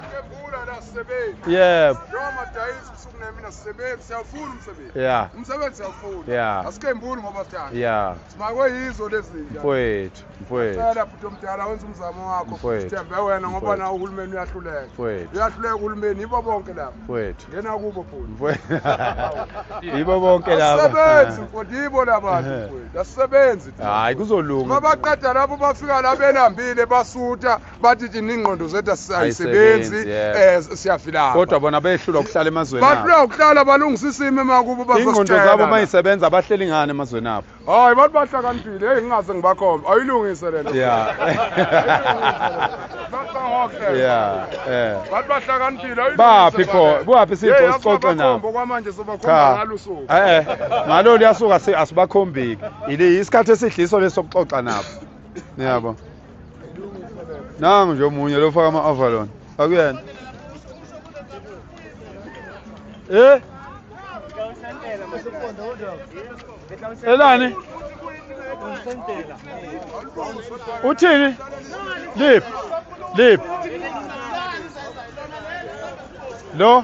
Kebula la sisebenzi. Yebo. Noma dayisi kusuku nemina sisebenzi siyafuna umsebenzi. Yeah. Umsebenzi siyafuna. Yeah. Asikembuli ngoba sithanda. Yeah. Simakwe yizo lezi zinto. Mfowethu, mfowethu. Sala bhuti omdala wenza umzamo wakho. Mfowethu. Sithembe wena ngoba na uhulumeni uyahluleka. Mfowethu. Uyahluleka uhulumeni yibo bonke laba. Mfowethu. Ngena kubo bhuti. Mfowethu. Yibo bonke laba. Asebenzi mfowethu yibo laba mfowethu. Asebenzi. Hayi kuzolunga. Mabaqeda lapho bafika la belambile basutha. bathi thina ingqondo zethu ayisebenzi um eh, siyafilaa kodwa bona behlula ukuhlala emazweni bahlula ukuhlala balungisa isimo emakubo ingqondo zabo uma isebenza bahleli ngani emazweni abo hayi bathi bahlakaniphile heyi ngingase ngibakhombe ayilungise lena ya ya eh. bathi bahlakaniphile baphi pho kuwaphi sipho sixoxe nabo kwamanje sobakhomba ngalo suku eh, eh. ngalo liyasuka asibakhombiki isikhathi esidliso lesokuxoxa nabo niyabo nangu nje omunye lofaka ama-avalon akuyena e elani uthini lip lip lo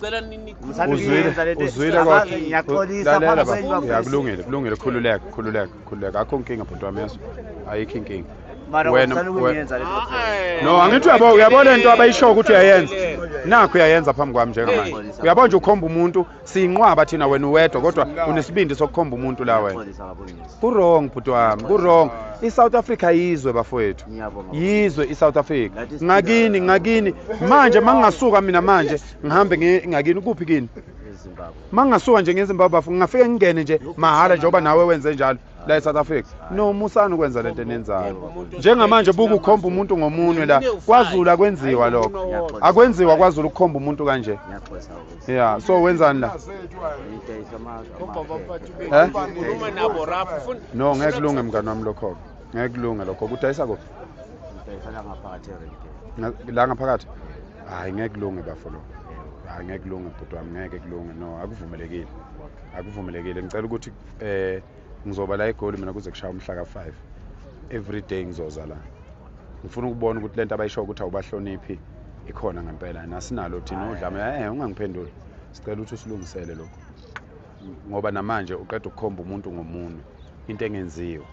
cela ninikuzwilekulungile kulungile khululeka khululeka khululeka akho nkinga bhuti wami yeso ayikho inkinga no angithi uyabo uyabona into abayishoyo ukuthi uyayenza nakho uyayenza phambi kwami njengamanje uyabona nje ukhomba umuntu siyinqwaba thina wena uwedwa kodwa unesibindi sokukhomba umuntu la wena kurong bhuti wami kurong i-south africa yizwe bafowethu yizwe i-south africa ngakini ngakini manje ma ngingasuka mina manje ngihambe ngakini kuphi kini ma ngingasuka nje ngezimbabwe bafo ngingafike ngingene nje mahhala njengoba nawe wenze njalo la e-south africa no musani ukwenza le nto enenzayo njengamanje buke ukhomba umuntu ngomunwe la kwazulu akwenziwa lokho akwenziwa kwazulu ukukhomba umuntu kanje Yeah, so wenzani la? Eh? No, ngeke kulunge mngani wami lokho. Ngeke kulunge lokho. Kudayisa kuphi? Kudayisa la ngaphakathi eRenke. La ngaphakathi? Hayi ngeke kulunge bafo lokho. Hayi ngeke kulunge bhuti wami, ngeke kulunge. No, akuvumelekile. Akuvumelekile. Ngicela ukuthi eh ngizoba la egoli mina kuze kushaya umhla ka-five every day ngizoza la ngifuna ukubona ukuthi le nto abayishoyo ukuthi awubahloniphi ikhona ngempela nasinalo thina udlame e eh, ungangiphenduli sicela ukuthi usilungisele lokho ngoba namanje uqeda ukukhomba umuntu ngomunwe into engenziwa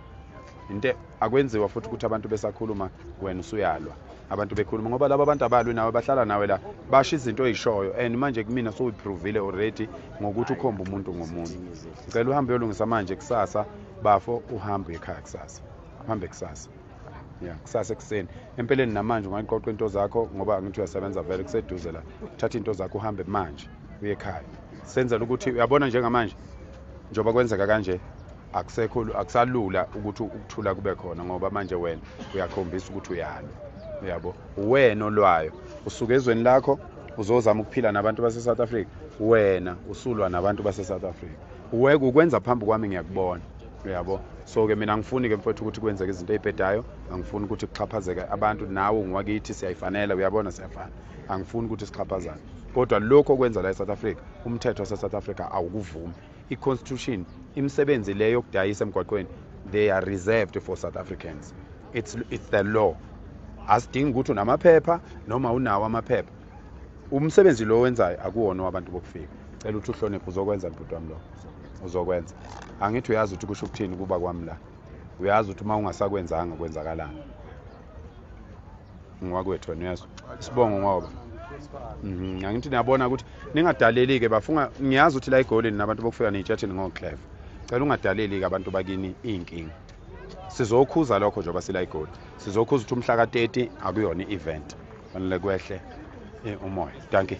into akwenziwa futhi ukuthi abantu besakhuluma wena usuyalwa abantu bekhuluma ngoba laba bantu abalwi nawe bahlala nawe la basho izinto oyishoyo and manje kumina sowuyiphrovile already ngokuthi ukhomba umuntu ngomunye ngicela uhambe uyolungisa manje kusasa bafo uhambe ekhaya kusasa uhambe kusasa ya kusasa ekuseni empeleni namanje ungayiqoqa into zakho ngoba angithi uyasebenza vele kuseduze la thatha into zakho uhambe manje uye ekhaya senzela ukuthi uyabona njengamanje njengoba kwenzeka kanje akusekho akusalula ukuthi ukuthula kube khona ngoba manje wena uyakhombisa ukuthi uyalwa uyabo uwena olwayo usuke ezweni lakho uzozama ukuphila nabantu base-south africa wena usulwa nabantu base-south africa uweke ukwenza phambi kwami ngiyakubona uyabo so-ke mina angifuni-ke mfowethu ukuthi kwenzeke izinto ey'bhedayo angifuni ukuthi kuxhaphazeke abantu nawe ungiwakithi siyayifanela uyabona siyafana angifuni ukuthi sixhaphazane kodwa lokhu okwenza la e-south africa umthetho wase-south africa awukuvumi i-constitution imisebenzi le yokudayisa emgwaqweni they are reserved for south africans it's, it's the law asidingi ukuthi unamaphepha noma unawo amaphepha umsebenzi lo wenzayo akuwona wabantu bokufika cela ukuthi uhloniphe uzokwenza mbhuti wami lo uzokwenza angithi uyazi ukuthi kusho ukuthini kuba kwami la uyazi ukuthi uma ungasakwenzanga kwenzakalani ngwakwethu wena uyazwa sibongo ngoba mhm, angithi niyabona ukuthi ningadaleli-ke bafunga ngiyazi ukuthi la egolini nabantu bokufika neyitshathini ngoclever cela ungadaleli-ke abantu bakini iy'nkinga sizokhuza lokho njengoba sila igoli sizokhuza ukuthi umhla ka-30 akuyona i-event fanele kwehle eh, umoya dankie